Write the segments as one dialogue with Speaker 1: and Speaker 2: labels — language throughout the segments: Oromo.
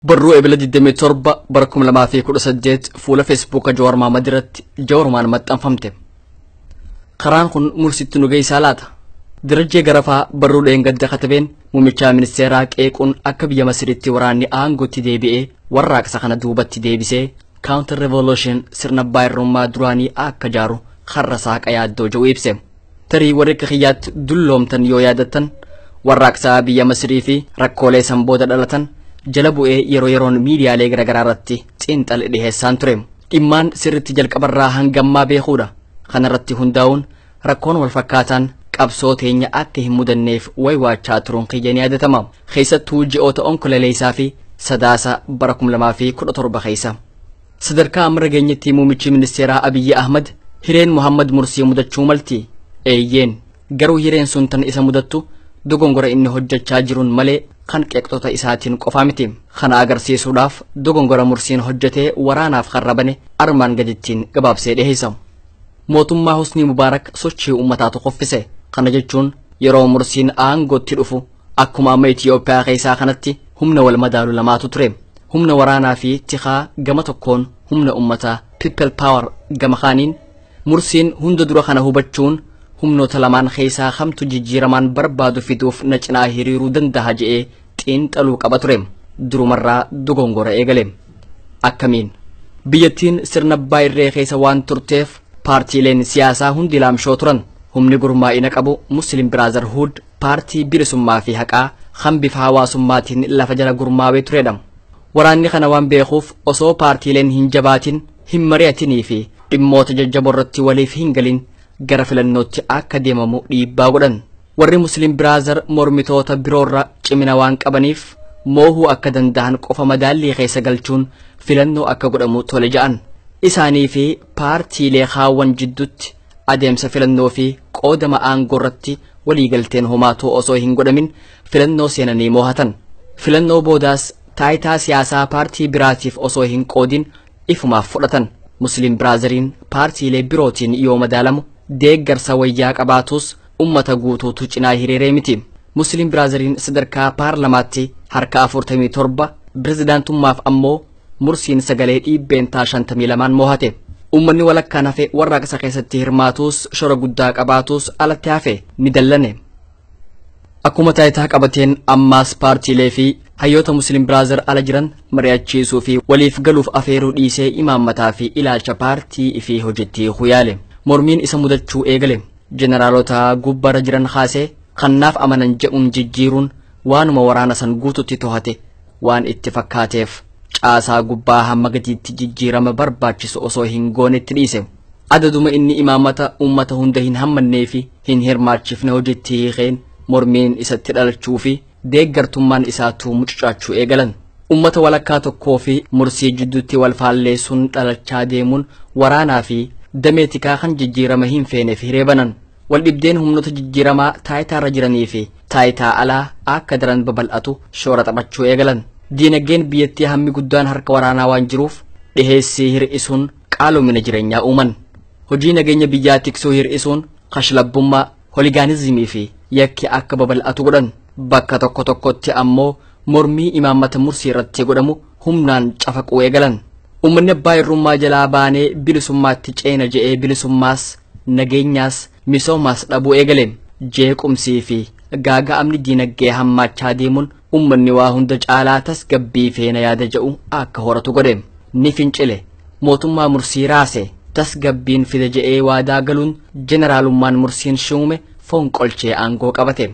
Speaker 1: Barruu Ebila 27 bara 2018 fuula Feesbuuka Jawaar Maamad irratti Jawarumaan maxxanfamte. Karaan kun mulsitti nu geessaa laata? Dirajjee Garafaa barruu dheengadda katabeen muummicha ministeeraa qeequun akka biyya Masiritti waraanni aangootti deebi'ee warraaqsa kana duubatti deebisee counter revolution sirna baay'irrummaa duraanii akka jaaru karra saaqa yaaddoo jedhu ibse. Tarii warri akka kiyyaatti dulloomtan yoo yaadattan warraaqsaa biyya Masirii fi rakkoolee san booda dhalatan jala bu'ee yeroo yeroon miidiyaalee garaagaraa irratti xiinxale dhiheessaan ture. Dhimmaan sirritti jalqabarraa hangammaa beekuudha. Kanarratti hundaa'uun rakkoon walfakkaataan qabsoo teenya akka hin mudanneef waywaachaa turuun kiyya ni yaadatama. Keessattuu ji'oota onkololeessaa fi sadaasa bara 2017 keessa. Sadarkaa amma irra geenyetti muummichi ministeeraa Abiyyi Ahmad hireen Muhammad Mursii mudachuu malti. Eeyyeen. Garuu hireen sun tan isa mudattu dogongora inni hojjechaa jiruun malee kan qeeqxota isaatiin qofaa miti. Kana agarsiisuudhaaf dogongora Mursiin hojjetee waraanaaf karra bane armaan gadittiin gabaabsee dhiheessa. Mootummaa Husnii Mubaarak sochii uummataa tokkoffise. Kana jechuun yeroo Mursiin aangootti dhufu Akkuma amma Itiyoophiyaa keessaa kanatti humna wal madaalu lamaatu ture. Humna waraanaa fi tikaa gama tokkoon humna ummataa people power gama kaaniin mursiin hunda dura kana hubachuun humnoota lamaan keessaa kamtu jijjiiramaan barbaadu fiduuf na cinaa hiriiruu danda'a je'ee xiinxaluu qaba ture. Durumarraa dogongora eegale. Akkamiin? Biyyattiin sirna abbaa irree keessa waan turteef paartiileen siyaasaa hundi laamshoo turan. Humni gurmaa'ina qabu Muslim Brotherhood Paartii bilisummaa fi haqaa kan bifa hawaasummaatiin lafa jala gurmaawee turedha. Waraanni kana waan beekuuf osoo paartiileen hin jabaatin, hin mari'atinii fi dhimmoota jajjaboo irratti waliif hin galin gara filannootti akka deemamu dhiibbaa godhan. Warri Muslim Brother mormitoota biroorra cimina waan qabaniif moohuu akka danda'an qofa madaallii keessa galchuun filannoo akka godhamu tole ja'an. Isaanii fi paartiilee kaawwan jiddutti Adeemsa filannoo fi qoodama aangoo irratti waliigalteen homaatuu osoo hin godhamin filannoo seenanii moohatan. Filannoo boodaas taayitaa siyaasaa paartii biraatiif osoo hin qoodin ifumaaf fudhatan. Musliim Biraazariin paartiilee birootiin yoo madaalamu deeggarsa wayyaa qabaatuus ummata guutuutu cinaa hiriiree miti. Musliim Biraazariin sadarkaa paarlamaatti harka 47, pirezidaantummaaf ammoo Mursiin sagalee dhiibbeentaa 52n moohate. Uummanni walakkaan hafe warraaqsa keessatti hirmaatuus shora guddaa qabaatuus alatti hafe ni dallane. Akkuma taayitaa qabateen ammaas paartiilee fi hayyoota Muslim Brother ala jiran mari'achiisuu fi waliif galuuf afeeruu dhiisee imaammataa fi ilaalcha paartii fi hojiitti hiikuu yaale. Mormiin isa mudachuu eegale. Jeneraalota gubbarra jiran kaasee kan naaf amanan jedhuun jijjiiruun waanuma waraana san guututti tohate waan itti fakkaateef caasaa gubbaa hamma gadiitti jijjiirama barbaachisu osoo hin goonetti dhiise. Adaduma inni imaamata uummata hunda hin hammannee fi hin hirmaachifne hojiitti hiikeen mormiin isatti dhalachuu fi deeggartummaan isaatuu mucucaachuu eegalan. Uummata walakkaa tokkoo fi mursii jidduutti wal faalleessuun dhalachaa deemuun waraanaa fi damee tikaa kan jijjiirama hin feeneef hiree banan. Waldhibdeen humnoota jijjiiramaa taayitaarra jiranii fi taayitaa alaa akka daran babal'atu shoora taphachuu eegalan. Diinagdeen biyyattii hammi guddaan harka waraanaa waan jiruuf dhiheessii hir'isuun qaalomina jireenyaa uuman. Hojii nageenya biyyaa tiksuu hir'isuun kashlabbummaa, holigaanizimii fi yakki akka babal'atu godhan. Bakka tokko tokkotti ammoo mormii imaammata mursii irratti godhamu humnaan cafaquu eegalan. Uummanni abbaa irrummaa jalaa baanee bilisummaatti ceena je'ee bilisummaas nageenyaas misoomaas dhabuu eegale. Jeequmsii fi gaaga'amni diinaggee hammaachaa deemuun ummanni waa hunda caalaa tasgabbii feena yaada ja'u akka horatu godhe. Ni fincile. Mootummaa mursii raase. Tasgabbiin fida je'ee waadaa galuun jeneraalummaan mursiin shuume fonqolchee aangoo qabate.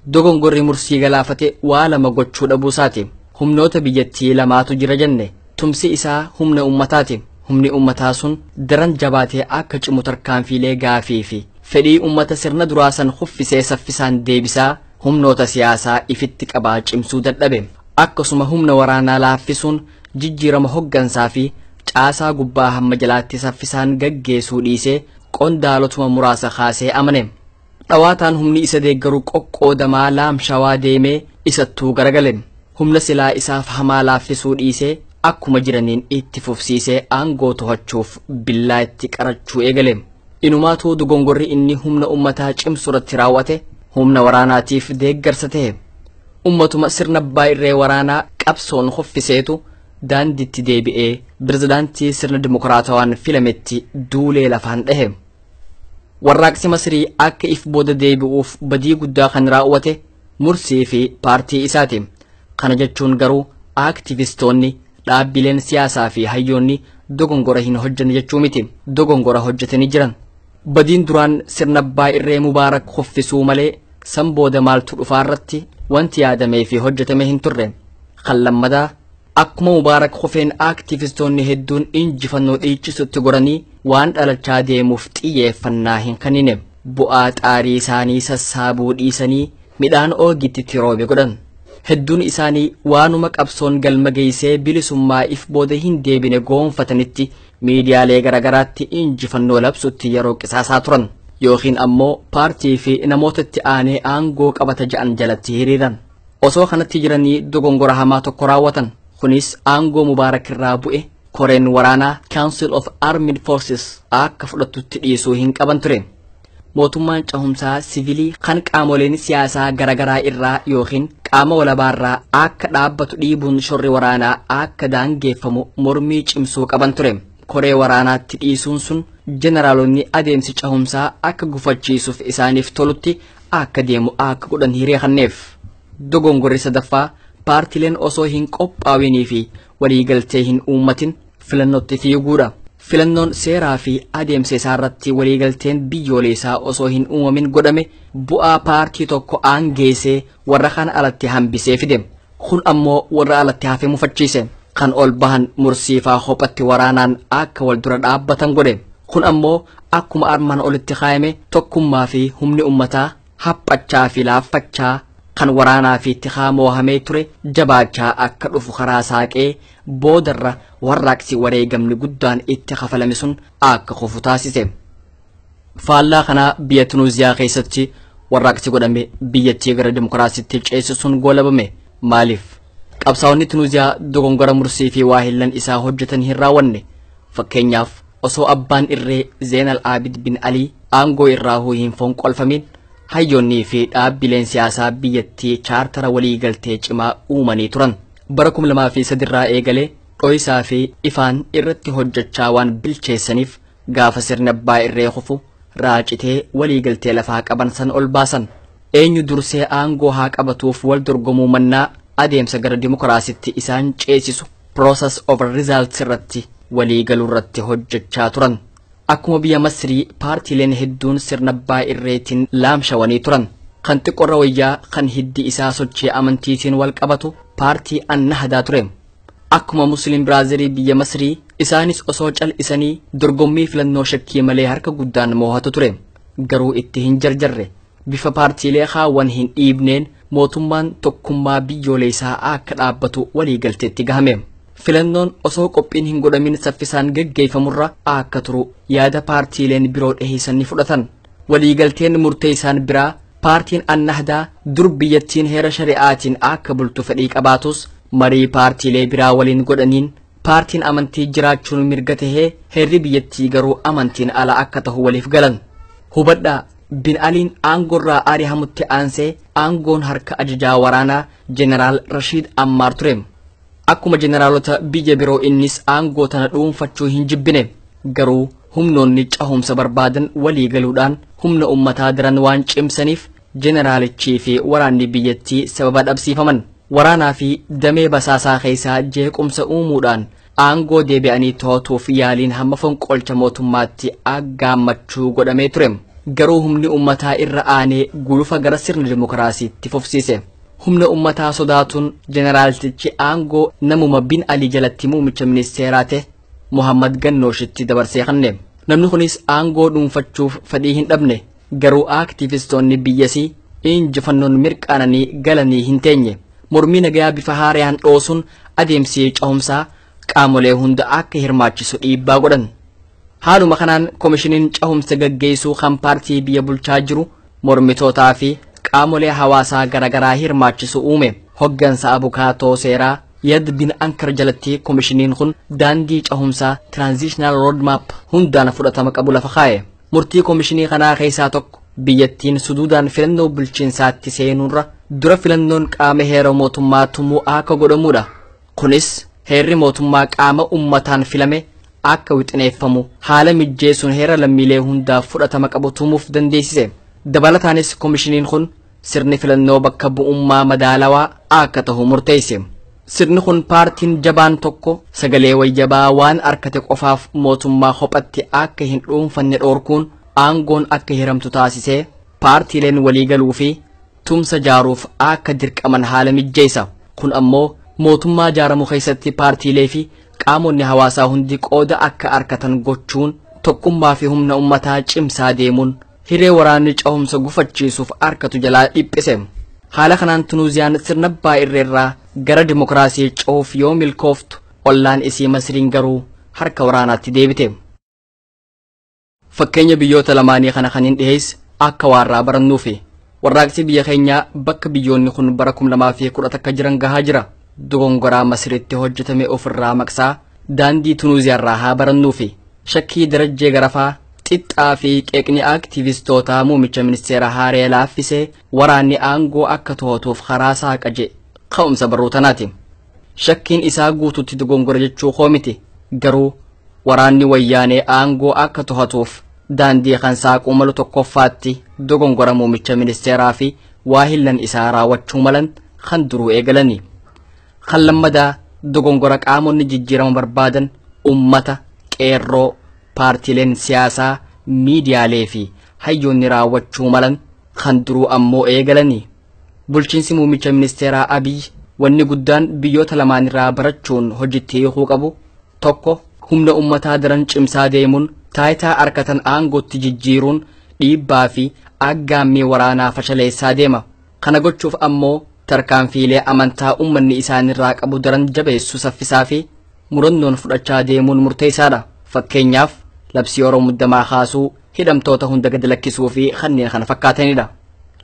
Speaker 1: Dogongorri mursii galaafate waa lama gochuu dhabuu isaati. Humnoota biyyattii lamaatu jira jenne. Tumsi isaa humna ummataati. Humni ummataa sun daran jabaatee akka cimu tarkaanfiilee gaafii fi fedhii ummata sirna duraa san kuffisee saffisaan deebisaa humnoota siyaasaa ifitti qabaa cimsuu dadhabe. Akkasuma humna waraanaa laaffisuun jijjiirama hoggansaa fi caasaa gubbaa hamma jalaatti saffisaan gaggeesuu dhiisee qondaalotuma muraasa kaasee amane. Dhawaataan humni isa deeggaru qoqqoodamaa Laam Shawaa deemee isattuu garagale. Humna silaa isaaf hamaa laaffisuu dhiisee akkuma jiraniin itti fufsiisee aangoo tohachuuf billaa itti qarachuu eegale. Inumaatuu dogongorri inni humna ummataa cimsuratti raawwate humna waraanaatiif deeggarsa ta'e. Ummatuma sirna abbaa irree waraanaa qabsoon hoffiseetu daandiitti deebi'ee pirezidaantii sirna dimokiraatawaan filametti duulee lafaan dhahe. Warraaqsi Masirii akka if booda deebi'uuf badii guddaa kan raawwate Mursii fi paartii isaati. Kana jechuun garuu aaktivistoonni, dhaabbileen siyaasaa fi hayyoonni dogongora hin hojjenne jechuu miti. Dogongora hojjetanii jiran. Badiin duraan sirna abbaa irree Mubaarak kuffisuu malee san booda maaltu dhufaa irratti wanti yaadamee fi hojjetame hin turre. Kan lammataa Akkuma Mubaarak Hufeen aktivistoonni hedduun injifannoo dhiichisutti goranii waan dhalachaa deemuuf xiyyeeffannaa hin kennine. Bu'aa xaarii isaanii sassaabuu dhiisanii midhaan oogitti itti roobe godhan. Hedduun isaanii waanuma qabsoon galma geessee bilisummaa if booda hin deebine goonfatanitti miidiyaalee garaagaraatti injifannoo labsutti yeroo qisaasaa turan. Yookiin ammoo paartii fi namoota itti aanee aangoo qabata ja'an jalatti hiriiran. Osoo kanatti jiranii dogongora hamaa tokko raawwatan. Kunis aangoo Mubaarak irraa bu'e koreen waraanaa Council of Armed Forces akka fudhatutti dhiisuu hin qaban ture. Mootummaan cahumsaa sivilii kan qaamoleen siyaasaa garaagaraa irraa yookiin qaama walabaa irraa akka dhaabbatu dhiibuun shorri waraanaa akka daangeeffamu mormii cimsuu qaban ture. Koree waraanaatti dhiisuun sun jeneraalonni adeemsi cahumsaa akka gufachiisuuf isaaniif tolutti akka deemu akka godhan hiree kanneef dogongorri sadaffaa paartileen osoo hin qophaawinii fi waliigaltee hin uummatin filannootti fiiguudha. Filannoon seeraa fi adeemsa isaa irratti waliigalteen biyyooleessaa osoo hin uumamin godhame bu'aa paartii tokko aangeessee warra kaan alatti hambisee fide. Kun ammoo warra alatti hafe mufachiise. Kan ol bahan mursiifaa hophatti waraanaan akka wal dura dhaabbatan godhe. Kun ammoo akkuma armaan olitti kaayame tokkummaa fi humni ummataa haphachaa fi laaffachaa kan waraanaa fi tikaa moohamee ture jabaachaa akka dhufu karaa saaqee boodarra warraaqsi wareegamni guddaan itti kafalame sun akka kufu taasise. Faallaa kanaa biyya Tunuuziyaa keessatti warraaqsi godhame biyyattii gara dimokiraasiitti ceesisuun goolabame. Maaliif? Qabsaa'onni Tunuuziyaa dogongora mursii fi waahillan isaa hojjetan hin raawwanne. Fakkeenyaaf osoo abbaan irree Zeenal Aabid bin Alii aangoo irraa hin fonqolfamiin hayyoonnii fi dhaabbileen siyaasaa biyyattii chaartara walii galtee cimaa uumanii turan. Bara 2003 irraa eegalee dho'isaa fi ifaan irratti hojjechaa waan bilcheessaniif Gaafa sirni abbaa irree kufu raacitee waliigaltee lafaa qaban san ol baasan. Eenyu dursee aangoo haa qabatuuf wal dorgomuu mannaa adeemsa gara dimokiraasitti isaan ceesisu process over results irratti waliigaluu irratti hojjechaa turan. Akkuma biyya Masrii paartiileen hedduun sirna abbaa irreetiin laamshawanii turan. Kan xiqqorra wayyaa kan hiddi isaa sochii amantiitiin wal qabatu paartii Annahdaa ture. Akkuma Musliim Biraazirii biyya Masrii isaanis osoo cal'isanii dorgommii filannoo shakkii malee harka guddaan moohatu ture. Garuu itti hin jarjarre. Bifa paartiilee kaawwan hin dhiibneen mootummaan tokkummaa biyyooleessaa akka dhaabbatu waliigalteetti gahame. Filannoon osoo qophiin hin godhamin saffisaan geggeeffamurra akka turu yaada paartiileen biroo dhiheessan ni fudhatan. Waliigalteen murtee isaan biraa paartiin Annahdaa dur biyyattiin heera shari'aatiin akka bultu fedhii qabaatus marii paartiilee biraa waliin godhaniin paartiin amantii jiraachuun mirga tahee heerri biyyattii garuu amantiin ala akka tahu waliif galan. Hubadhaa Bin Aliin aangorraa arihamutti aansee aangoon harka ajajaa waraanaa Jeneraal Rashiid Ammaar ture. Akkuma jeneraalota biyya biroo innis aangoo tana dhuunfachuu hin jibbine. Garuu humnoonni cahumsa barbaadan walii galuudhaan humna ummataa daran waan cimsaniif jeneraalichii fi waraanni biyyattii sababa dhabsiifaman. Waraanaa fi damee basaasaa keessaa jeequmsa uumuudhaan aangoo deebi'anii to'atuuf yaaliin hamma fonqolcha mootummaatti aggaammachuu godhamee ture. Garuu humni ummataa irra aanee gulufa gara sirna dimokiraasiitti fufsiise. Humna ummataa sodaatuun jeneraaltichi aangoo namuma bin Alii jalatti muumicha ministeeraa ta'e Muhammad Gannooshitti dabarsee kenne. Namni kunis aangoo dhuunfachuuf fedhii hin dhabne. Garuu aaktiivistoonni biyyasii injifannoon mirqaananii galanii hin teenye. Mormii nagayaa bifa haarayaan dhoosuun adeemsi cehumsaa qaamolee hunda akka hirmaachisu dhiibbaa godhan. Haaluma kanaan komishiniin cehumsa gaggeessuu kan paartii biyya bulchaa jiru mormitootaa fi qaamolee hawaasaa garagaraa hirmaachisu uume. Hoggansa abukaatoo seeraa Yad bin Ankar jalatti komishiniin kun daandii cahumsaa Transitional Roadmap hundaan fudhatama qabu lafa kaa'e. Murtii komishinii kanaa keessaa tokko biyyattiin suduudaan filannoo bulchiinsaatti seenuurra dura filannoon qaama heera mootummaa tumuu akka godhamudha. Kunis heerri mootummaa qaama ummataan filame akka wixineeffamu haala mijjeessuun heera lammiilee hundaaf fudhatama qabu tumuuf dandeessise. Dabalataanis komishiniin kun sirni filannoo bakka bu'ummaa madaalawaa akka tahu murteesse. Sirni kun paartiin jabaan tokko sagalee wayyabaa waan arkate qofaaf mootummaa kophatti akka hin dhuunfanne dhoorkuun aangoon akka hiramtu taasisee paartiileen waliigaluu fi tumsa jaaruuf akka dirqaman haala mijjeessa. Kun ammoo mootummaa jaaramu keessatti paartiilee fi qaamonni hawaasaa hundi qooda akka arkatan gochuun tokkummaa fi humna ummataa cimsaa deemuun hiree waraanni cahumsa gufachiisuuf arkatu jalaa dhiphise. Haala kanaan Tunuuziyaan sirna abbaa irreerraa gara dimokiraasii cehuuf yoo milkooftu ollaan isii Masriin garuu harka waraanaatti deebite. Fakkeenya biyyoota lamaanii kana kan hin dhiheesse akka waarraa barannuufi. Warraaqsi biyya keenyaa bakka biyyoonni kun bara 2011 jiran gahaa jira. Dogongoraa Masiritti hojjetame ofirraa maqsaa daandii Tunuuziyaarraa haa barannuufi. Shakkii darajjee garafaa xixxaa fi qeeqni aktiivistootaa muumicha ministeera haaree laaffisee waraanni aangoo akka to'atuuf karaa saaqa jedhe ka'umsa barruu tanaati. Shakkiin isaa guututti dogongora jechuu koo miti. Garuu waraanni wayyaanee aangoo akka tohatuuf daandii kan saaquu malu tokkoffaatti dogongora muumicha ministeeraa fi waahillan isaa raawwachuu malan kan duruu eegalani. Kan lammadaa dogongora qaamonni jijjiirama barbaadan ummata, qeerroo, paartiileen siyaasaa, miidiyaalee fi hayyoonni raawwachuu malan kan duruu ammoo eegalani. Bulchiinsi muummicha ministeeraa Abiy wanni guddaan biyyoota lamaanirraa barachuun hojitti hiikuu qabu tokko humna ummataa daran cimsaa deemuun taayitaa arkatan aangootti jijjiiruun dhiibbaa fi aggaammii waraanaa fashaleessaa deema. Kana gochuuf ammoo tarkaanfiilee amantaa ummanni isaanirraa qabu daran jabeessu saffisaa fi murannoon fudhachaa deemuun murteessaadha. Fakkeenyaaf labsii yeroo muddamaa kaasuu, hidhamtoota hunda gadi lakkisuu fi kanneen kana fakkaatanidha.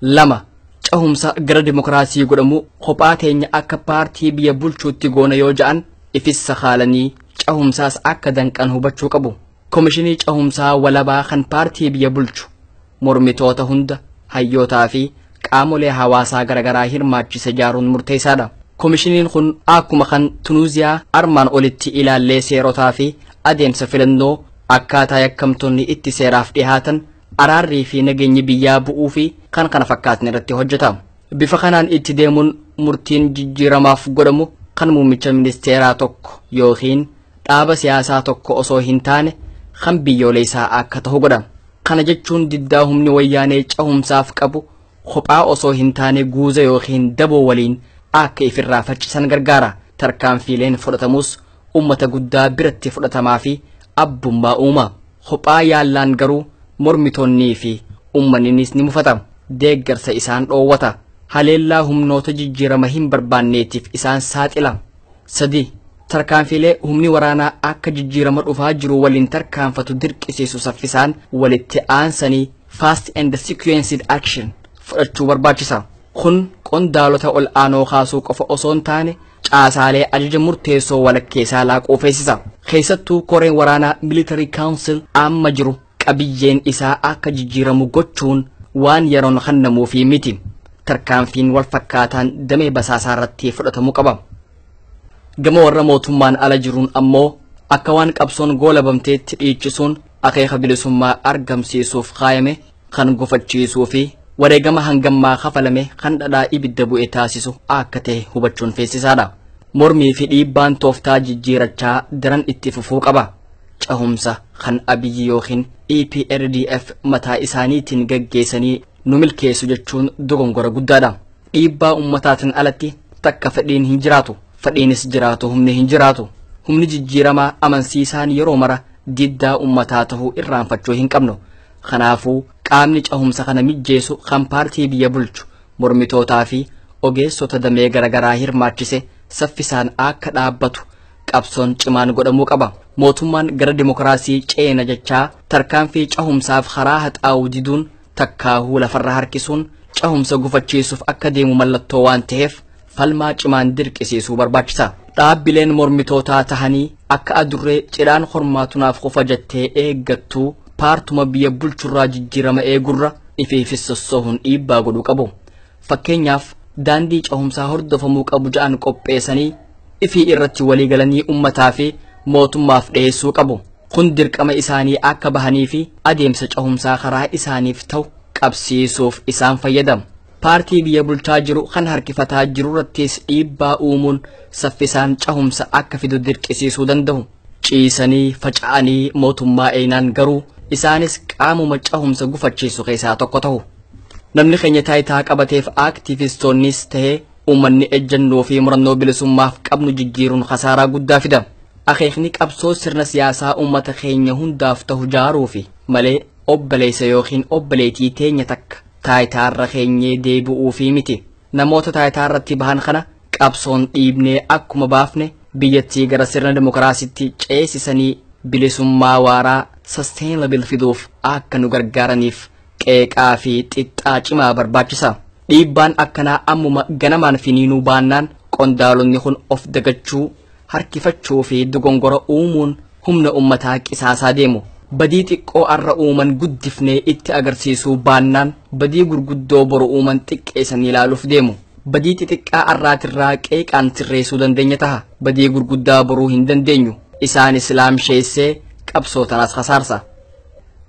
Speaker 1: lama cehumsa gara dimokiraasii godhamu kophaa keenya akka paartii biyya bulchuutti goona yoo ja'an ifis sakaalanii cehumsaas akka danqan hubachuu qabu. Komishinii cehumsaa walabaa kan paartii biyya bulchu mormitoota hunda hayyootaa fi qaamolee hawaasaa garaagaraa hirmaachise ijaaruun murteessaadha. Komishiniin kun akkuma kan Tunuuziyaa armaan olitti ilaallee seerotaa fi adeemsa filannoo akkaataa yakkamtoonni itti seeraaf dhihaatan, araarrii fi nageenyi biyyaa bu'uu fi kan kana fakkaatan irratti hojjeta. Bifa kanaan itti deemuun murtiin jijjiiramaaf godhamu kan muummicha ministeeraa tokko yookiin dhaaba siyaasaa tokko osoo hin taane kan biyyooleessaa akka ta'u godha. Kana jechuun diddaa humni wayyaanee cahumsaaf qabu kophaa osoo hin taane guuza yookiin daboo waliin akka ifirraa faccisan gargaara. Tarkaanfiileen fudhatamus ummata guddaa biratti fudhatamaa fi abbummaa uuma. Kophaa yaallaan garuu mormitoonnii fi ummaninis ni mufata. Deeggarsa isaan dhoowwata. Haleellaa humnoota jijjiirama hin barbaanneetiif isaan saaxila. 3. Tarkaanfiilee humni waraanaa akka jijjiirama dhufaa jiru waliin tarkaanfatu dirqisiisu saffisaan walitti aansanii fast and sequenced action fudhachuu barbaachisa. Kun qondaalota ol aanoo kaasuu qofa osoo hin taane caasaalee ajaja murteessoo walakkeessaa laaquu feesisa. Keessattuu koreen waraanaa Military Council amma jiru qabiyyeen isaa akka jijjiiramu gochuun waan yeroon kennamuufii miti. Tarkaanfiin wal fakkaataan damee basaasaa irratti fudhatamuu qaba. Gama warra mootummaan ala jiruun ammoo akka waan qabsoon goolabamteetti dhiichisuun akeeka bilisummaa argamsiisuuf kaayame kan gufachiisuu fi wareegama hangammaa kafalame kan dhadhaa ibidda bu'e taasisu akka ta'e hubachuun feesisaadha. Mormii fi dhiibbaan tooftaa jijjiirachaa daran itti fufuu qaba. Cehumsa kan Abiyyi yookiin EPRDF mataa isaaniitiin gaggeessanii nu milkeessu jechuun dogongora guddaadha. Dhiibbaa ummataatiin alatti takka fedhiin hin jiraatu. Fedhiinis jiraatu humni hin jiraatu. Humni jijjiiramaa amansiisaan yeroo mara diddaa ummataa ta'uu irraanfachuu hin qabnu. Kanaafuu qaamni cahumsa kana mijjeesu kan paartii biyya bulchu mormitootaa fi ogeessota damee garagaraa hirmaachise saffisaan akka dhaabbatu qabsoon cimaan godhamuu qaba. Mootummaan gara dimokiraasii ceena jechaa tarkaanfii cahumsaaf karaa haxaa'u diduun takkaahuu lafarra harkisuun cahumsa gufachiisuuf akka deemu mallattoo waan taheef falmaa cimaan dirqisiisuu barbaachisa. Dhaabbileen mormitootaa tahanii akka adurree cidhaan hormaatu naaf qofa jettee eeggattuu paartuma biyya bulchurraa jijjiirama eegurra ifiifis sossohuun dhiibbaa godhuu qabu. Fakkeenyaaf daandii cehumsaa hordofamuu qabu ja'an qopheessanii ifii irratti waliigalanii ummataa fi mootummaaf dhiyeessuu qabu. Kun dirqama isaanii akka bahanii fi adeemsa cehumsaa karaa isaaniif ta'u qabsiisuuf isaan fayyada. paartii biyya bulchaa jiru kan harkifataa jiru irrattis dhiibbaa uumuun saffisaan cahumsa akka fidu dirqisiisuu danda'u. Ciisanii faca'anii mootummaa eeynaan garuu isaanis qaamuma cahumsa gufachiisu keessaa tokko ta'u. Namni keenya taayitaa qabateef aktiivistoonnis ta'ee uummanni ejjennoo fi murannoo bilisummaaf qabnu jijjiiruun kasaaraa guddaa fida. Akeekni qabsoo sirna siyaasaa uummata keenya hundaaf ta'u jaaruufi malee obboleessa yookiin obboleetii teenya takka taayitaa irra keenyee deebi'uufii miti. Namoota taayitaa irratti bahan kana qabsoon dhiibnee akkuma baafne biyyattii gara sirna dimokiraasitti ceesisanii bilisummaa waaraa sustainable fiduuf akka nu gargaaraniif qeeqaa fi xixxaa cimaa barbaachisa. Dhiibbaan akkanaa ammuma ganamaan finiinuu baannaan qondaalonni kun of dagachuu harkifachuu fi dogongora uumuun humna ummataa qisaasaa deemu. Badii xiqqoo arra uuman guddifnee itti agarsiisuu baannaan badii gurguddoo boru uuman xiqqeesanii ilaaluuf deemu. Badii xixiqqaa arraatirraa qeeqaan sirreessuu dandeenya taha. Badii gurguddaa boruu hin dandeenyu. Isaanis laamsheessee qabsoo tanaas kasaarsa.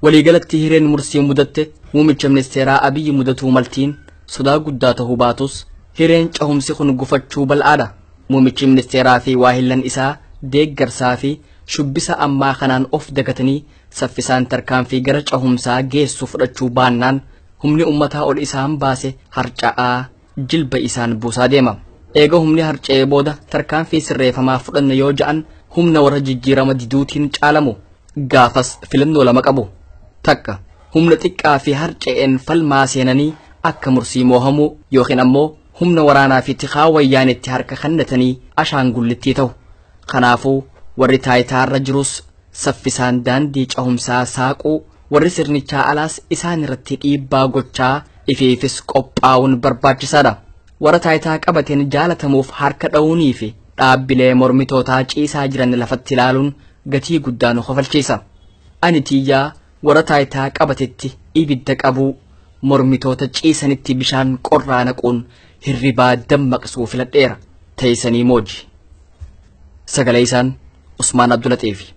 Speaker 1: Waliigalatti hireen mursii mudatte muumicha ministeeraa Abiyyi mudatuu maltiin sodaa guddaa tahuu baatus hireen cahumsi kun gufachuu bal'aadha. Muummichi ministeeraa fi waahillan isaa deeggarsaa fi shubbisa ammaa kanaan of dagatanii saffisaan tarkaanfii gara cahumsaa geessu fudhachuu baannaan humni ummataa ol isaan baase harca'aa jilba isaan buusaa deema. Eega humni harca'ee booda tarkaanfii sirreefamaa fudhanna yoo ja'an humna warra jijjiirama diduutiin caalamu. Gaafas filannoo lama qabu. Takka humna xiqqaa fi harca'een falmaa seenanii akka mursii moohamuu yookiin ammoo humna waraanaa fi tikaa wayyaanetti harka kennatanii ashaangullittii ta'u. Kanaafuu warri taayitaa irra jirus saffisaan daandii cahumsaa saaquu warri sirnichaa alaas isaan irratti dhiibbaa gochaa ifiifis qophaa'uun barbaachisaadha. Warra taayitaa qabateen jaalatamuuf harka dha'uunii fi dhaabbilee mormitootaa ciisaa jiran lafatti ilaaluun gatii guddaa nu kofalchiisa. Ani tiyyaa Warra taayitaa qabatetti ibidda qabuu, mormitoota ciisanitti bishaan qorraa naquun hirribaa dammaqsuu filadheera. Teeysanii mooji. Sagalee isaan Usmaan Abdulaxiifi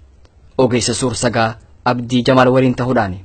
Speaker 1: ogeessa suur sagaa Abdii Jamaal waliin tahuudhaani.